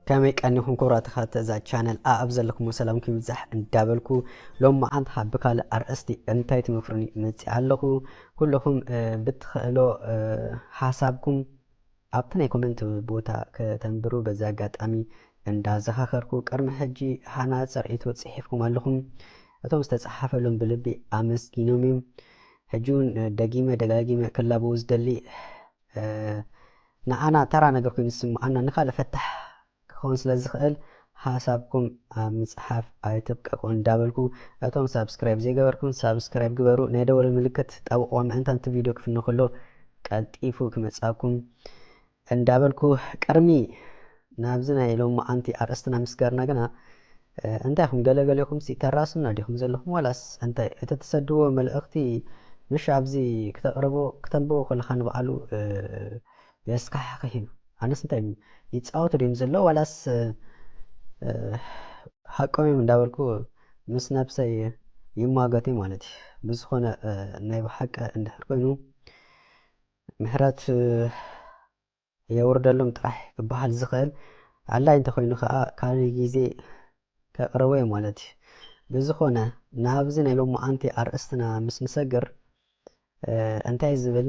ከመይ ቀኒኹም ክብራት ተኸታተልቲ እዛ ቻነል ኣብ ዘለኹም ሰላምኩም ይብዛሕ እንዳበልኩ ሎም መዓልቲ ካብ ብካልእ ኣርእስቲ እንታይ ትመክሩኒ መፂእ ኣለኹ ኩለኹም ብትኽእሎ ሓሳብኩም ኣብቲ ናይ ኮመንት ቦታ ከተንብሩ በዚ ኣጋጣሚ እንዳ ዘኻኸርኩ ቅርሚ ሕጂ ሃናጽ ርኢቶ ጺሒፍኩም ኣለኹም እቶም ዝተጻሓፈሎም ብልቢ ኣመስጊኖም እዮም ሕጂ ውን ደጊመ ደጋጊመ ክላበዉ ዝደሊ ንዓና ተራ ነገር ኮይኑ ዝስምዓና ንካልእ ፈታሕ ክኸውን ስለ ዝኽእል ሓሳብኩም ኣብ ምጽሓፍ ኣይትብቀቁ እንዳበልኩ እቶም ሳብስክራይብ ዘይገበርኩም ሳብስክራይብ ግበሩ ናይ ደወል ምልክት ጣብቅዋ ምእንታንቲ ቪድዮ ክፍኖ ከሎ ቀልጢፉ ክመጽኣኩም እንዳበልኩ ቅርሚ ናብዚ ናይ ሎምዓንቲ ኣርእስትና ምስጋርና ግና እንታይ ኢኹም ገለ ገሊኹምሲ ተራሱና ዲኹም ዘለኹም ዋላስ እንታይ እቲ ትሰድዎ መልእኽቲ ምሽ ኣብዚ ክተቅርቦ ክተንብቦ ከለኻ ንባዕሉ የስካሕክሕ እዩ ኣነስ እንታይ እም ይጻወቱ ድዩም ዘለዉ ዋላስ ሓቆም እዮም እንዳበልኩ ምስ ነብሰይ ይሟገት እየ ማለት እዩ ብዝኮነ ናይ ብሓቂ እንድሕር ኮይኑ ምሕረት የውርደሎም ጥራሕ ክበሃል ዝክእል ኣላይ እንተኮይኑ ከኣ ካልእ ግዜ ከቅርቦ እየ ማለት እዩ ብዝኮነ ናብዚ ናይ ሎምዓንቲ ኣርእስትና ምስ ንሰግር እንታይ ዝብል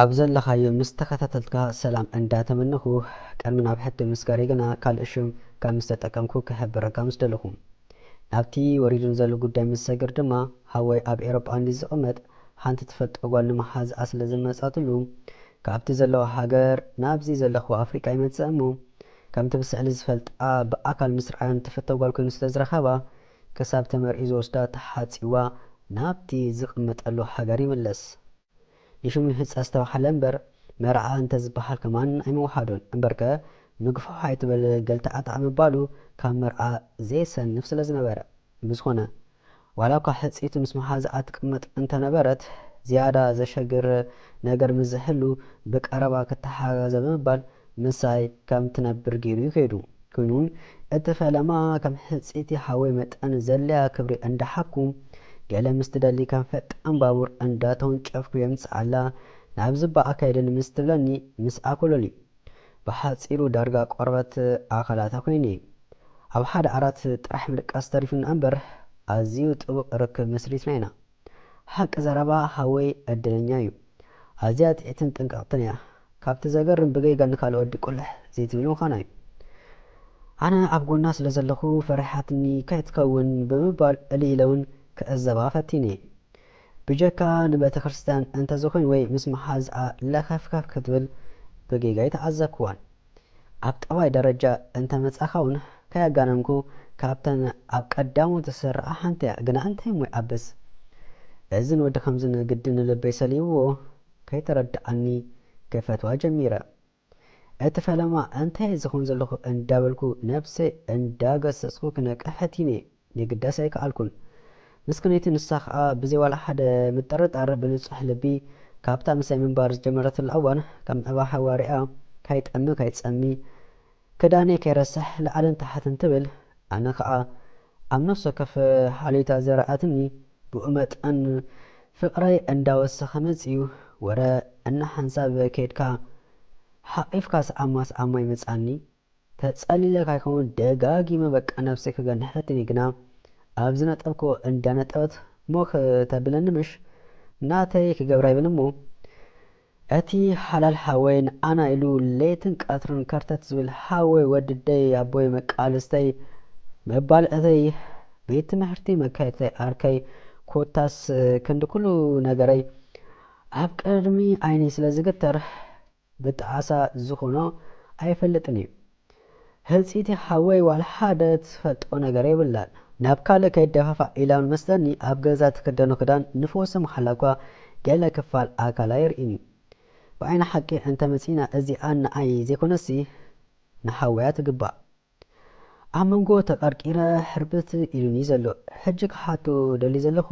ኣብ ዘለኻዮ ምስ ተኸታተልትካ ሰላም እንዳ ተመነኹ ቀድሚ ናብ ሕቲ ምስጋረይ ግና ካልእ ሽም ከም ምስ ተጠቀምኩ ክሕብረካ ምስ ደለኹ። ናብቲ ወሪዱኒ ዘሎ ጉዳይ ምስ ሰግር ድማ ሃወይ ኣብ ኤሮጳ እንድዩ ዝቕመጥ ሓንቲ ትፈልጦ ጓል ንምሓዝ ኣስለ ዝመጻትሉ ካብቲ ዘለዎ ሃገር ናብዚ ዘለኽዎ ኣፍሪቃ ይመጽእ እሞ ከምቲ ብስዕሊ ዝፈልጣ ብኣካል ምስ ርኣዮን ትፍቶ ጓል ኮይኑ ስለ ዝረኸባ ክሳብ ተመርዕዩ ዝወስዳ ተሓጽዋ ናብቲ ዝቕመጠሉ ሃገር ይምለስ። ንሹም ንህጻ ዝተባህለ እምበር መርዓ እንተ ዝበሃል ከማን ኣይምውሓዱን። እምበርከ ምግፋሕ ኣይትበል ገልተኣታዕ ምባሉ ካብ መርዓ ዘየሰንፍ ስለ ዝነበረ። ብዝኾነ ዋላኳ ሕጽይቲ ምስ መሓዝኣ ትቅመጥ እንተ ነበረት ዝያዳ ዘሸግር ነገር ምስ ዝህሉ ብቀረባ ክተሓጋገዘ ብምባል ምሳይ ከም ትነብር ጌሩ ዩ ከይዱ ኮይኑ እቲ ፈለማ ከም ሕጽይቲ ሓወይ መጠን ዘለያ ክብሪ እንዳ ሓብኩ ገለ ምስ ትደሊ ከም ፈጣን ባቡር እንዳ ተወንጨፍኩ የምጽኣላ ናብዚ እባ ኣካይደኒ ምስ ትብለኒ ምስ ኣኮሎሊ ብሓጺሩ ዳርጋ ቆርበት ኣካላታ ኮይነ ኣብ ሓደ ዓራት ጥራሕ ምድቃስ ተሪፉኒ ኣምበር ኣዝዩ ጥቡቅ ርክብ መስሪትና ኢና ሓቂ ዘረባ ሃወይ ዕድለኛ ዩ ኣዝያ ጥዒትን ጥንቅቅትን እያ ካብቲ ዘገርም ብገይጋ ንካልኦት ድቁልሕ ዘይትብል ምኳና ዩ ኣነ ኣብ ጎና ስለ ዘለኩ ፈሪሓትኒ ከይትከውን ብምባል እልይ ኢለ ውን ክዕዘባ ፈቲነ ብጀካ ንቤተክርስትያን እንተዝኮይን ወይ ምስ መሓዝኣ ለከፍከፍ ክትብል ብገይጋ ኣይተዓዘብክዋን ኣብ ጠባይ ደረጃ እንተ መጻኻ ውን ከያጋነንኩ ካብተን ኣብ ቀዳሞት ዝስርዓ ሓንቲ እያ ግና እንታይ እሞ ይዓብስ እዚ ንወዲ ከምዚ ንግዲ ንልበይ ሰሊብዎ ከይተረድኣኒ ክፈትዋ ጀሚረ እቲ ፈለማ እንታይ እየ ዝኸውን ዘለኹ እንዳበልኩ ነብሰይ እንዳገሰጽኩ ክነቅሕ ፈቲነ የግዳስ ኣይከኣልኩን። ምስክነይቲ ንሳ ኸኣ ብዘይ ዋላ ሓደ ምጥርጣር ብንጹሕ ልቢ ካብታ ምሳይ ምንባር ዝጀመረትላ እዋን ከም ዕባ ሃዋርያ ካይጠሚ ካይጸሚ ክዳነይ ከይረስሕ ላዕልን ታሕትን ትብል ኣነ ኸኣ ኣብ ነፍሲ ወከፍ ሃልዮታ ዘርኣትኒ ብኡ መጠን ፍቕረይ እንዳወሰኸ መጺኡ ወረ እንሓንሳብ ከይድካ ሓቒፍካ ሰዓማ ሰዓማ ይመጽኣኒ ተጸሊለ ካይከውን ደጋጊመ በቃ ነብሰይ ክገንሐትኒ ግና ኣብ ዝነጠብክዎ እንዳ ነጠበት ሞክ ተብለኒ ምሽ ናተይ ክገብራ ይብል እሞ እቲ ሓላል ሓወይ ንዓና ኢሉ ለይትን ቀትርን ከርተት ዝብል ሓወይ ወድደይ ኣቦይ መቃልስተይ መባልዕተይ ቤት ትምሕርቲ መካይድተይ ዓርከይ ኮታስ ክንዲ ኩሉ ነገረይ ኣብ ቅድሚ ዓይነይ ስለ ዝግተር ብጣዕሳ ዝኮኖ ኣይፈልጥን እዩ ህርጺቲ ሓወይ ዋላ ሓደ ትፈልጦ ነገር የብላን ናብ ካልእ ከይደፋፋእ ኢላ መስለኒ ኣብ ገዛ ትክደኖ ክዳን ንፍወሰ ምሓላ እኳ ገለ ክፋል ኣካላ የርኢን እዩ ብዓይኒ ሓቂ እንተ መጺና እዚኣ ንዓይ ዘይኮነሲ ንሓወያ ትግባእ ኣብ መንጎ ተቀርቂረ ሕርብት ኢሉኒ ዘሎ ሕጂ ክሓቶ ደልዩ ዘለኩ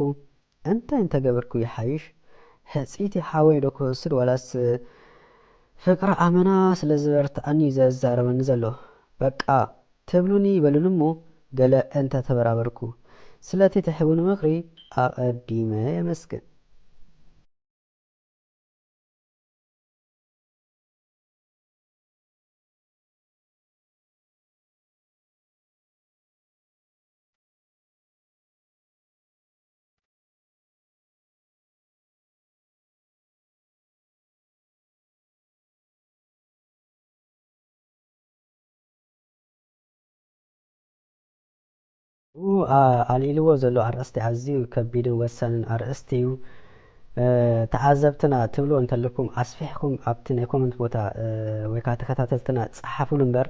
እንታይ እንተገበርኩ ይሓይሽ ሕጽይቲ ሓወይ ዶ ክወስድ ዋላስ ፍቅሪ ኣመና ስለ ዝበረተኣኒ እዩ ዘዛርበኒ ዘሎ በቃ ትብሉኒ በሉኒ እሞ ገለ እንተ ተበራበርኩ ስለቲ ትሕቡኒ ምክሪ ኣቀዲመ የመስግን። ኣብኡ ኣልዒልዎ ዘሎ ኣርእስቲ ኣዝዩ ከቢድን ወሳንን ኣርእስቲ'ዩ። ተዓዘብትና ትብልዎ እንተለኩም ኣስፊሕኩም ኣብቲ ናይ ኮመንት ቦታ ወይ ከኣ ተከታተልትና ጸሓፉሉ እምበር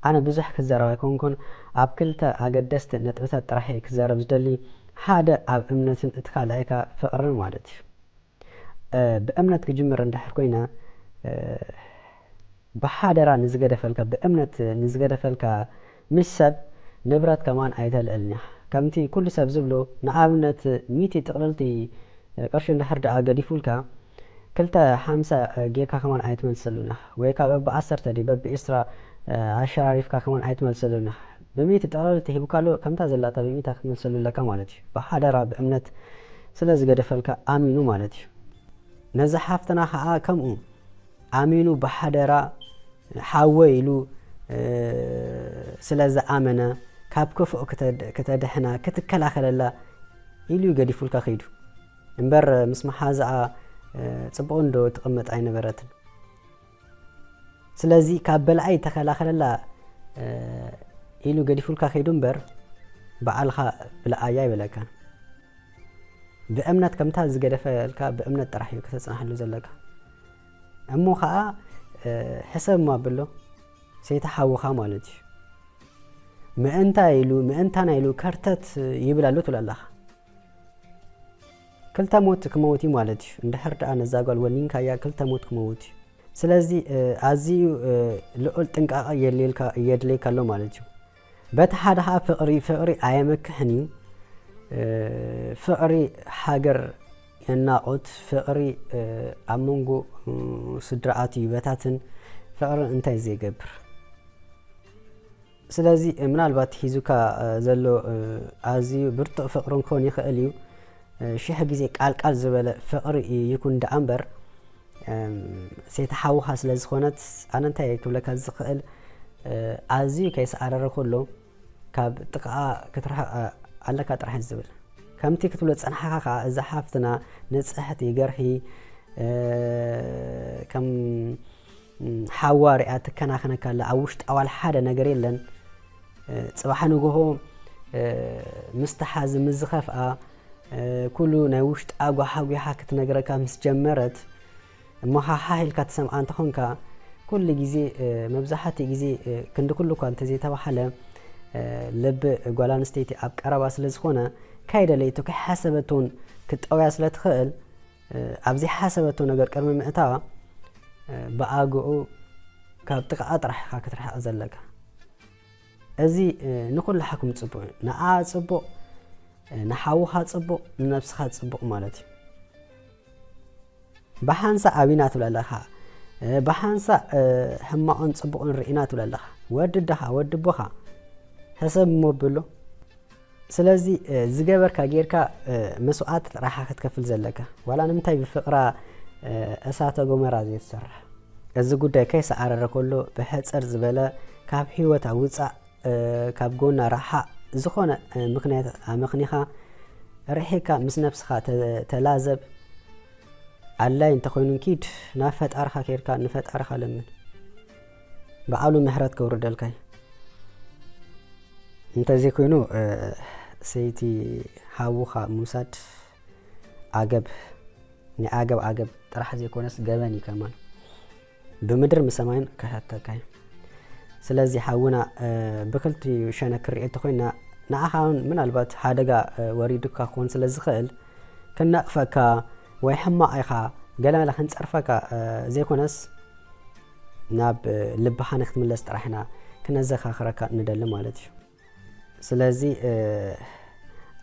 ኣነ ብዙሕ ክዛረብ ኣይኮንኩን ኣብ ክልተ ኣገደስቲ ነጥብታት ጥራሕ እየ ክዛረብ ዝደሊ ሓደ ኣብ እምነትን እቲ ካልኣይ ከኣ ፍቅርን ማለት እዩ ብእምነት ክጅምር እንድሕር ኮይነ ብሓደራ ንዝገደፈልካ ብእምነት ንዝገደፈልካ ምስ ሰብ ንብረት ከማን ኣይተልዕል ኒሕ ከምቲ ኩሉ ሰብ ዝብሎ ንኣብነት ሚእቲ ጥቅልልቲ ቅርሺ እንድሕር ድኣ ገዲፉልካ ክልተ ሓምሳ ጌርካ ከማን ኣይትመልሰሉ ኒሕ ወይካ በቢ ዓሰርተ ድዩ በቢ ዕስራ ኣሸራሪፍካ ከማን ኣይትመልሰሉ ኒሕ ብሚእቲ ጥቅልልቲ ሂቡካሉ ከምታ ዘላታ ብሚእታ ክትመልሰሉ ኣለካ ማለት እዩ ብሓደራ ብእምነት ስለ ዝገደፈልካ ኣሚኑ ማለት እዩ ነዛ ሓፍትና ከኣ ከምኡ። ኣሚኑ ብሓደራ ሓወይ ኢሉ ስለ ዝኣመነ ካብ ክፉእ ክተድሕና ክትከላኸለላ ኢሉ እዩ ገዲፉልካ ከይዱ እምበር ምስ መሓዝኣ ጽቡቕ እንዶ ትቕመጥ ኣይነበረትን ስለዚ ካብ በላኣይ ተኸላኸለላ ኢሉ ገዲፉልካ ከይዱ እምበር በዓልኻ ብለኣያ ይበለካ ብእምነት ከምታ ዝገደፈልካ ብእምነት ጥራሕ እዩ ከተፅናሕሉ ዘለካ እሞ ኸኣ ሕሰብ እሞ ኣብሎ ሰይቲ ሓውኻ ማለት እዩ ምእንታይ ኢሉ ምእንታና ኢሉ ከርተት ይብል ኣሎ ትብል ኣለኻ ክልተ ሞት ክመውት እዩ ማለት እዩ እንድሕር ደኣ ነዛ ጓል ወኒንካያ ክልተ ሞት ክመውት እዩ ስለዚ ኣዝዩ ልዑል ጥንቃቐ የድልየካ ኣሎ ማለት እዩ በቲ ሓደ ከኣ ፍቕሪ ፍቕሪ ኣየመክሕን እዩ ፍቕሪ ሃገር የናቑት ፍቕሪ ኣብ መንጎ ስድራኣት ይበታትን ፍቕሪ እንታይ ዘይገብር ስለዚ ምናልባት ሒዙካ ዘሎ ኣዝዩ ብርቱዕ ፍቕሪ ክኾን ይኽእል እዩ ሽሕ ግዜ ቃል ቃል ዝበለ ፍቅሪ ይኩን ደኣ እምበር ሴታ ሓውካ ስለ ዝኮነት ኣነ እንታይ ክብለካ ዝክእል ኣዝዩ ከይሰዓረረ ኩሉ ካብ ጥቃኣ ክትርሕቅ ኣለካ ጥራሕ እዩ ዝብል ከምቲ ክትብሎ ዝጸናሕካ ከኣ እዛ ሓፍትና ንጽሕቲ ገርሂ ከም ሓዋ ሪኣ ትከናኸነካ ኣላ ኣብ ውሽጣ ዋላ ሓደ ነገር የለን ፅባሕ ንግሆ ምስ ተሓዝ ምስ ዝኸፍኣ ኩሉ ናይ ውሽጣ ጓሓጒሓ ክትነግረካ ምስ ጀመረት እሞ ሓሓ ኢልካ ትሰምዓ እንተኾንካ ኩሉ ግዜ መብዛሕትኡ ግዜ ክንዲ ኩሉ እኳ እንተዘይተባሓለ ልቢ ጓል ኣንስተይቲ ኣብ ቀረባ ስለ ዝኾነ ከይደለይቱ ከይሓሰበትውን ክትጠውያ ስለ ትኽእል ኣብ ዘይሓሰበቶ ነገር ቅድሚ ምእታዋ ብኣግኡ ካብ ጥቓኣ ጥራሕ ኢኻ ክትርሕቕ ዘለካ እዚ ንኩላሓኩም ጽቡቅ እዩ ንኣ ጽቡቅ ንሓውኻ ጽቡቅ ንነብስኻ ጽቡቅ ማለት እዩ ብሓንሳእ ኣቢና ትብለ ኣለኻ ብሓንሳእ ሕማቕን ጽቡቕን ርኢና ትብለ ኣለኻ ወዲ ደኻ ወዲ ቦኻ ሕሰብ እሞ ብሎ ስለዚ ዝገበርካ ጌርካ መስዋኣቲ ጥራሓ ክትከፍል ዘለካ ዋላ ንምንታይ ብፍቅራ እሳተ ጎመራ ዘይትሰርሕ እዚ ጉዳይ ከይሰዓረረ ከሎ ብሕጽር ዝበለ ካብ ሂወታ ውጻእ ካብ ጎና ራሓቅ ዝኾነ ምክንያት ኣመክኒኻ ርሒካ ምስ ነብስኻ ተላዘብ ኣላይ እንተኾይኑ ኪድ ናብ ፈጣርኻ ኬድካ ንፈጣርኻ ለምን በዓሉ ምሕረት ከውርደልካ እዩ እንተዘይ ኮይኑ ሰይቲ ሓውኻ ምውሳድ ዓገብ ናይ ዓገብ ዓገብ ጥራሕ ዘይኮነስ ገበን እዩ ከማን ብምድር ምሰማይን ክሕተካ እዩ ስለዚ ሓውና ብክልቲኡ ሸነ ክርኤ እንተኮይና ንዓኻ እውን ምናልባት ሓደጋ ወሪዱካ ክኾን ስለ ዝኽእል ክነቕፈካ ወይ ሕማቕ ኢኻ ገለ ክንፀርፈካ ዘይኮነስ ናብ ልብኻ ንክትምለስ ጥራሕ ኢና ክነዘካክረካ ንደሊ ማለት እዩ። ስለዚ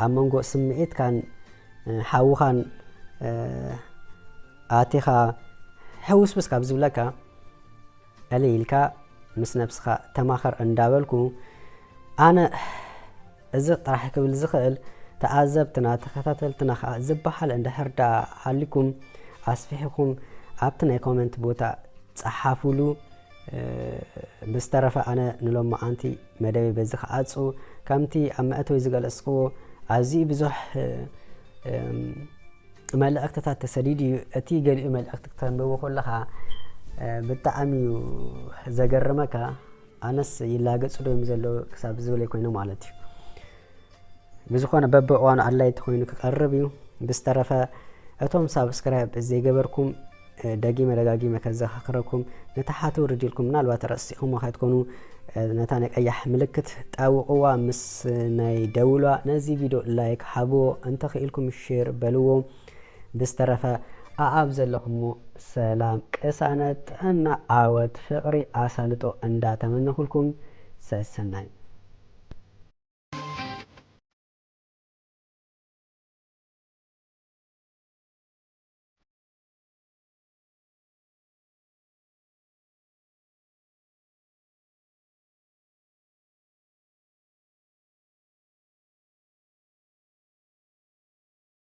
ኣብ መንጎ ስምዒትካን ሓውኻን ኣቲኻ ሕውስውስ ካብ ዝብለካ ዕልይ ኢልካ ምስ ነብስኻ ተማኸር እንዳበልኩ ኣነ እዚ ጥራሕ ክብል ዝኽእል ተኣዘብትና ተኸታተልትና ከኣ ዝበሃል እንድሕር ደኣ ሃሊኩም ኣስፊሕኩም ኣብቲ ናይ ኮመንት ቦታ ጸሓፉሉ ብዝተረፈ ኣነ ንሎማዓንቲ መደበይ በዚ ክዓጹ ከምቲ ኣብ መእተዊ ዝገለጽክዎ ኣዝዩ ብዙሕ መልእኽትታት ተሰዲዱ እዩ እቲ ገሊኡ መልእኽቲ ክተንብቡ ከለኻ ብጣዕሚ እዩ ዘገርመካ ኣነስ ይላገጹ ዶ ዘሎ ክሳብ ዝብል ኮይነ ማለት እዩ ብዝኾነ በብእዋኑ ኣድላይቲ ኮይኑ ክቀርብ እዩ ብዝተረፈ እቶም ሳብስክራይብ ዘይገበርኩም ደጊመ ደጋጊመ ከዘኻኽረኩም ነታ ሓቲ ውርድ ኢልኩም ምናልባት ረሲኹም ከትኮኑ ነታ ናይ ቀያሕ ምልክት ጣውቕዋ ምስ ናይ ደውሏ ነዚ ቪድዮ ላይክ ሓብዎ እንተኽኢልኩም ሼር በልዎ ብዝተረፈ ኣኣብ ዘለኹሞ ሰላም ቅሳነት ጥዕና ዓወት ፍቅሪ ኣሳልጦ እንዳ ተመነኹልኩም ሰሰናዩ።